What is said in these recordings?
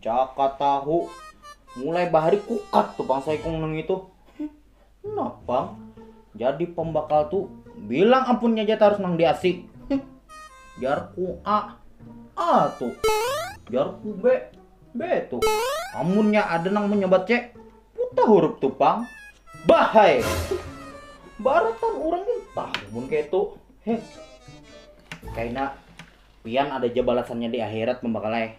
Jaka tahu mulai bahari kukat tuh pang saikung nang itu. Nah pang, jadi pembakal tuh bilang ampunnya aja harus nang diasi. Jarku A, A tuh. Jarku B, B tuh. Amunnya ada nang menyebat C, puta huruf tuh pang. Bahai. Baratan orang entah mun kayak itu. Heh. Kaina pian ada aja balasannya di akhirat pembakalai.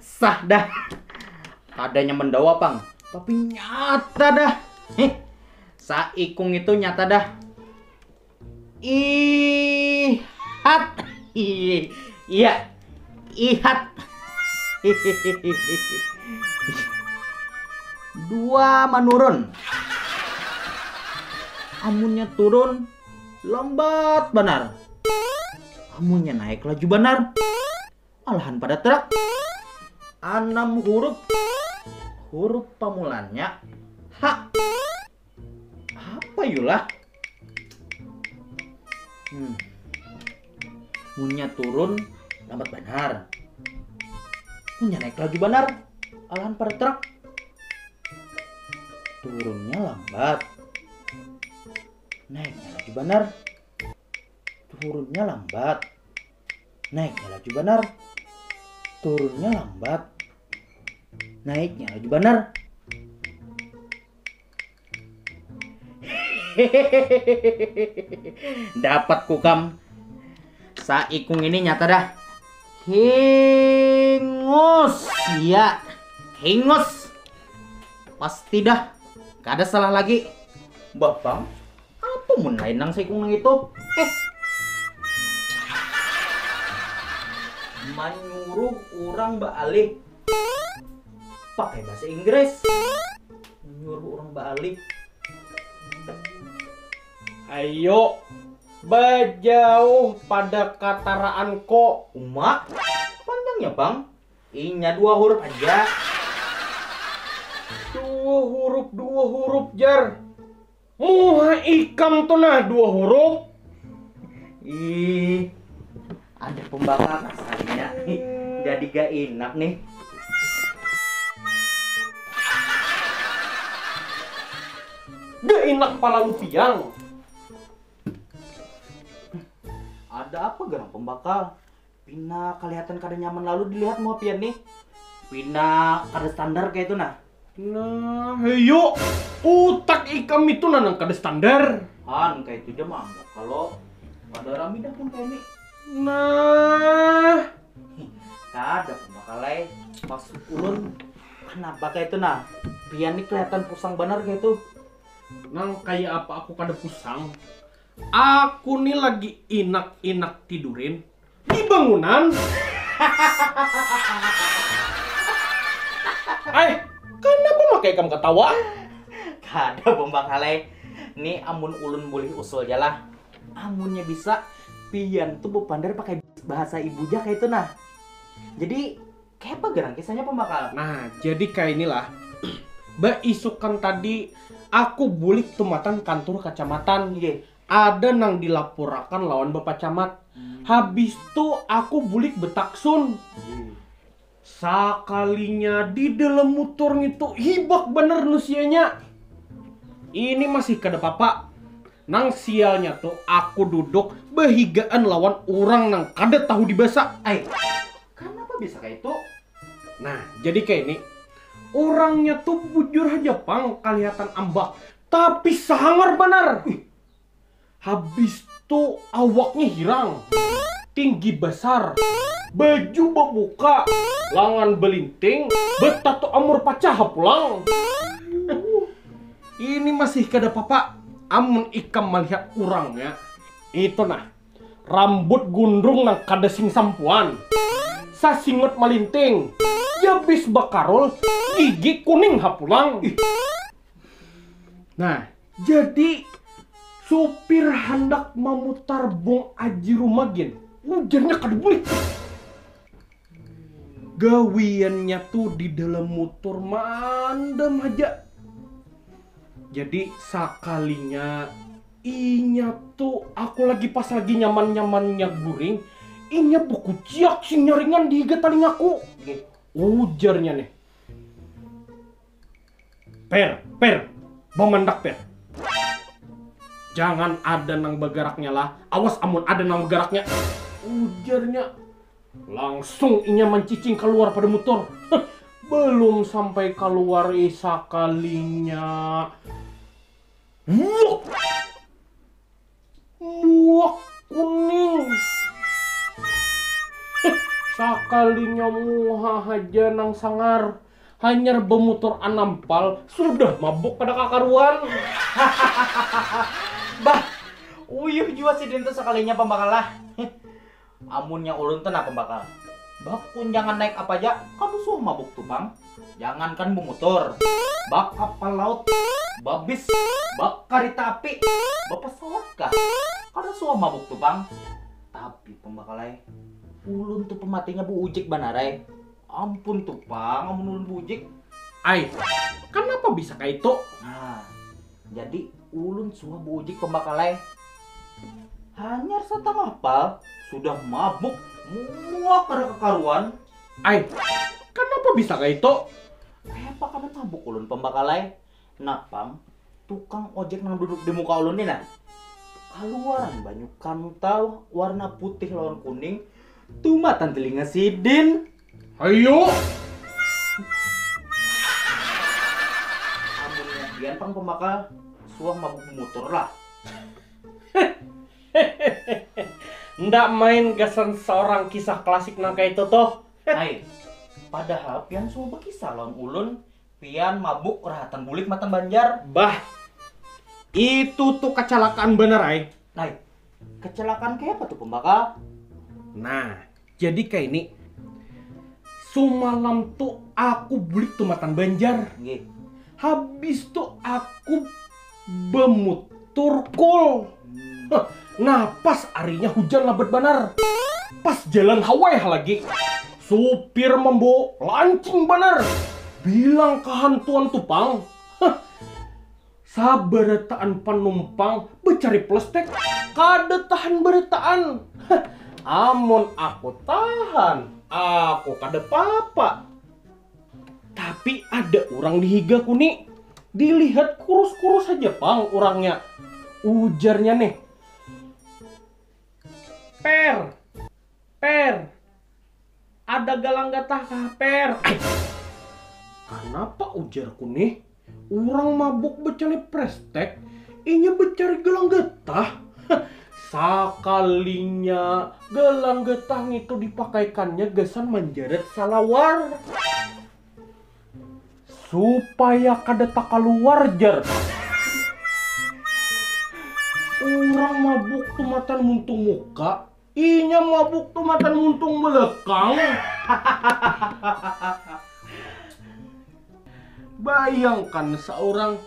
Sah dah. Kada nyaman dawa pang. Tapi nyata dah. Heh. Saikung itu nyata dah. Ihat. Iya. Ihat. Dua menurun. Amunnya turun Lambat banar. Amunnya naik laju banar. Malahan pada terak. Anam huruf. Huruf pamulannya H. Apa yulah? Hmm. Munnya turun lambat banar. Munnya naik laju banar. Alahan pada terak. Turunnya lambat. Naiknya laju banar. Turunnya lambat. Naiknya laju banar. Turunnya lambat. Naiknya laju banar. Dapat kukam. Saikung ini nyata dah. Hingus. Ya. Hingus. Pasti dah, kada salah lagi. Bah bang, apa mun lain nang saikung nang itu? Eh. Manyuruh orang baalih pakai bahasa Inggris. Manyuruh orang baalih. Ayo, bajauh pada kataraan ko. Uma, panjangnya bang. Inya dua hurup aja. Dua hurup, dua hurup jar. Muha ikam tu nah dua hurup. Ih, ada pembakar rasanya. Jadi gak enak nih. Gak enak pala lupiang. Ada apa gerang pembakar? Pina kalihatan kada nyaman lalu dilihat muha pian nih. Pina kada standar kayatu nah. Nah, heyo. Utak ikam itu nah nang kada standar. Han, kayatu ja maanggap kalo kada rami dah pun kaya ni. Nah. Kada pun bakal ai. Maksud ulun, kanapa kayatu nah. Pian nih kalihatan pusang banar kayatu. Nang kaya apa aku kada pusang? Aku ni lagi inak inak tidurin di bangunan hahaha ai kanapa makai ikam katawa kada bambanghalai ni amun ulun bulih usul ja lah amunnya bisa pian tu bapander pakai bahasa ibu ja kaitu nah jadi. Kaya apa gerang kisahnya pambakal? Nah jadi kainilah, baisukan tadi aku bulik tumatan kantur kacamatan, ada nang dilapurakan lawan bapak camat, habistu aku bulik betaksun, sakalinya di dalam mutur ngitu hibak banar nusianya, ini masih kada papa, nang sialnya tu aku duduk bahigaan lawan urang nang kada tahu dibasa. Ai. Kanapa bisa kaitu? Nah, jadi kaini, urangnya tu bujur haja pang kalihatan ambak, tapi sangar banar! Habis tu awaknya hirang, tinggi basar, baju babuka, langan balinting, batatu amur pacaha pulang! Ini masih kada papa amun ikam malihat urangnya. Itu nah, Rambut gundrung nang kada sing sampuan, sasingut malinting, jabis bakarul, gigi kuning ha pulang. Nah, jadi supir handak mamutar bung aji rumah gin, ujarnya kada bulik bus. Gawiannya tu di dalam mutur maandam haja. Jadi sakalinya Inya tu aku lagi pas lagi nyaman nyamannya guring, inya bekuciak sinyaringan di higa talingaku. Ujarnya nih. Per, per, bamandak per. Jangan ada nang bagaraknya lah, awas amun ada nang bagaraknya. Ujarnya. Langsung inya mancicing kaluar pada mutur. Belum sampai kaluar sakalinya. Muak. Muak kuning. Eh, sakalinya muha haja nang sangar. Hanyar bemutur anam pal, sudah mabuk kada kakaruan. Hahaha. Bah, uyuh jua sidin tu sakalinya pambakalah. Amunnya ulun te napa bakal. Bak kunjangan naik apa ja, kada suah mabuk tu pang. Jangankan bumutur. Bak kapal laut, babis, bak karita api, bapasawat kah. Kada suah mabuk tu pang. Tapi pambakal ai. Ulun tu pematinya buujik banar ai. Ampun tu pang amun ulun buujik. Ai. Kanapa bisa kaitu. Nah. Jadi ulun suah buujik pambakal ai. Hanyar satangah pal sudah mabuk muak kada kakaruan. Ai, kanapa bisa kaitu? Kayapa kada mabuk ulun pambakal ai. Napang tukang ojek nang duduk di muka ulun ni nah, kaluaran banyu kantal warna putih lawan kuning tumatan tilinga sidin. Ayo. Amunnya pian pang pembakal suah mabuk bumutur lah. Nda main gasan saurang kisah klasik nang kaitu tuh. Ai, padahal pian suah bakisah lawan ulun pian mabuk rahatan bulik matan Banjar. Bah, itu tuh kacalakaan banar ai. Ai, kacalakaan kayapa tuh pembakal? Nah, Jadi kaini, sumalam tu aku bulik tumatan Banjar. Nggih. Habis tu aku bamutur kul. Hah, nah pas arinya hujan labat banar. Pas jalan haweh lagi. Supir mambawa lancing banar. Bilang kahantuan tu pang. Hah. Sabarataan panumpang bacari plastik kada tahan barataan. Amun aku tahan, aku kada papa. Tapi ada urang di higaku ni, dilihat kurus-kurus haja pang urangnya. Ujarnya nih, Per, Per, ada galang gatah kah Per? Ai, kanapa ujarku nih? Urang mabuk bacalip prestek, inya bacari gelang getah. Sakalinya gelang getah ngitu dipakaikannya gasan manjarat salawar. Supaya kada takaluar jar. Urang mabuk tumatan muntung muka. Inya mabuk tu matan muntung belekang. Bayangkan seorang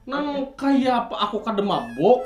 nang kaya apa aku kada mabuk.